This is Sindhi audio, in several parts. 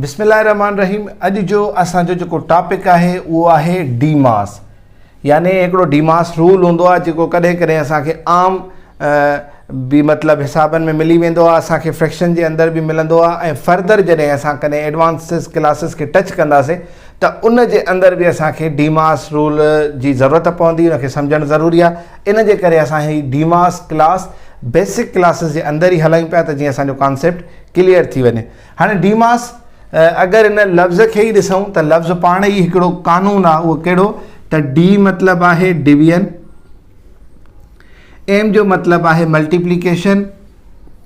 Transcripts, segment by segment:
بسم الله الرحمن الرحيم اڄ جو اسان جو جيڪو ٽاپڪ آهي اهو آهي ڊي ماس يعني هڪڙو ڊي ماس رول هوندو آهي جيڪو ڪڏهن ڪڏهن اسان کي عام به مطلب حسابن ۾ ملي ويندو آهي اسان کي فريڪشن جي اندر به ملندو آهي ۽ فردر جڏهن اسان ڪڏهن ايڊوانسز ڪلاسز کي ٽچ ڪنداسي ته ان جي اندر به اسان کي ڊي ماس رول جي ضرورت پوندي ان کي سمجھڻ ضروري آهي ان جي ڪري اسان هي DMAS class basic classes جي اندر ئي هلايون پيا ته جيئن اسان جو ڪانسيپٽ ڪليئر ٿي وڃي. هاڻي ڊيماس اگر ان لفظ کي ئي ڏسون ته لفظ پاڻ ئي هڪڙو قانون آهي اهو ڪهڙو ته ڊي مطلب آهي ڊويزن ايم جو مطلب آهي ملٽيپليڪيشن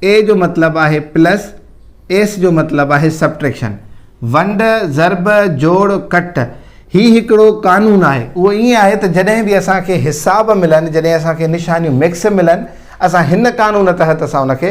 اي جو مطلب آهي پلس ايس جو مطلب آهي سبٽريڪشن ونڊ ضرب جوڙ ڪٽ هي هڪڙو قانون آهي اهو ائين آهي ته جڏهن به اسانکي حساب ملن جڏهن اسانکي نشانيون مڪس ملن اسان هن قانون تحت اسان ان کي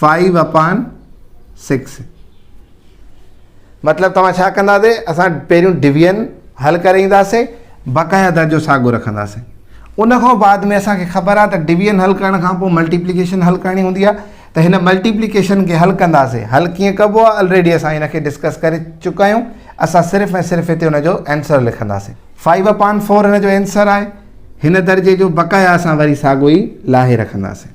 فائيو اپان سڪس مطلب توهان ڇا ڪنداسي اسان پهريون ڊويزن حل ڪري اينداسي بقايا درجو ساڳو رکنداسي ان کان بعد ۾ اسان کي خبر آهي ته ڊويزن حل ڪرڻ کان پوء ملٽيپليڪيشن حل ڪرڻي هوندي آهي ته هن ملٽيپليڪيشن کي حل ڪنداسي حل ڪيئن ڪبو آهي آلريڊي اسان هن کي ڊسڪس ڪري چڪا آهيون اسان صرف ۽ صرف هتي ان جو آنسر لکنداسي فائيو اپان فور هن جو آنسر آهي هن درجي جو بقايا اسان وري ساڳو ئي لاهي رکنداسي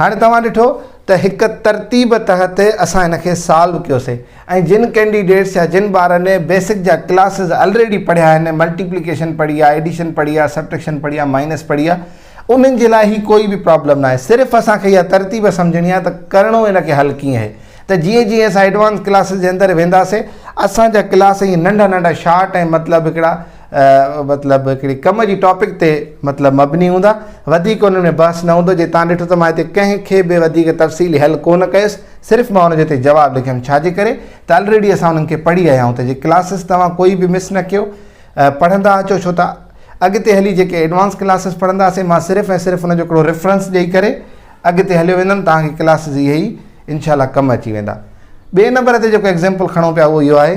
هاڻي توهان ڏٺو ته هڪ ترتيب تحت اسان هن کي سالو ڪيوسي ۽ جن ڪينڊيڊيٽس يا جن ٻارن بيسڪ جا ڪلاسز الريڊي پڙهيا آهن ملٽيپليڪيشن پڙهي آهي ايڊيشن پڙهي آهي سبٽريڪشن پڙهي آهي مائنس پڙهي آهي انهن جي لاء هي ڪوئي به پرابلم نه آهي صرف اسان کي اها ترتيب سمجھڻي آهي ته ڪرڻو هن کي حل ڪيئن آهي ته جيئن جيئن اسان ايڊوانس ڪلاسز جي اندر وينداسي اسان جا ڪلاس ائين ننڍا ننڍا شارٽ ۽ مطلب هڪڙا مطلب هڪڙي ڪم جي ٽاپڪ تي مطلب مبني هوندا وڌيڪ انهن ۾ بحث نه هوندو جي تان ڏٺو ته مان هتي ڪنهن کي به وڌيڪ تفصيلي حل ڪونه ڪيس صرف مان ان جو هتي جواب لکيم ڇا جي ڪري ته الريڊي اسان انهن کي پڙهي آيا آهيون ته جي ڪلاسز توهان ڪوئي به مس نه ڪيو پڙهندا اچو ڇو ته اڳتي هلي جيڪي ايڊوانس ڪلاسز پڙهنداسين مان صرف ۽ صرف ان جو هڪڙو ريفرنس ڏيئي ڪري اڳتي هليو ويندم توهان کي ڪلاسز اهي ئي انشاء الله ڪم اچي ويندا ٻئي نمبر تي جيڪو ايگزامپل کڻو پيا اهو اهو آهي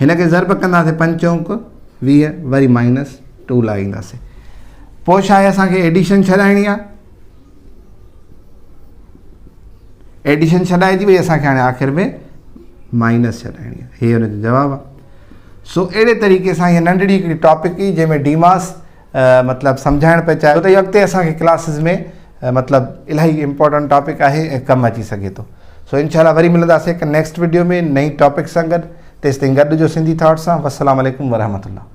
هن کي ضرب ڪنداسين پنج چونڪ ويهه وري مائنس ٽو لائينداسين پوء شايد اسان کي ايڊيشن ڇڏائڻي آ ايڊيشن ڇڏائجي وئي اسان کي هاڻي آخر ۾ مائنس ڇڏائڻي آ هي هن جو جواب آ سو اهڙي طريقي سان هي ننڍڙي هڪڙي ٽاپڪ هي جنهن ۾ ڊيماس مطلب سمجهائڻ پئي چاهيو ته اهو اڳتي اسان کي ڪلاسز ۾ مطلب الاهي امپورٽنٽ ٽاپڪ آهي ۽ ڪم اچي سگهي ٿو سو انشاء الله وري ملنداسي هڪ نيڪسٽ ويڊيو ۾ نئين ٽاپڪ سان گڏ تيستائين گڏ هجو سنڌي ٿاٽ سان والسلام عليڪم ورحمة الله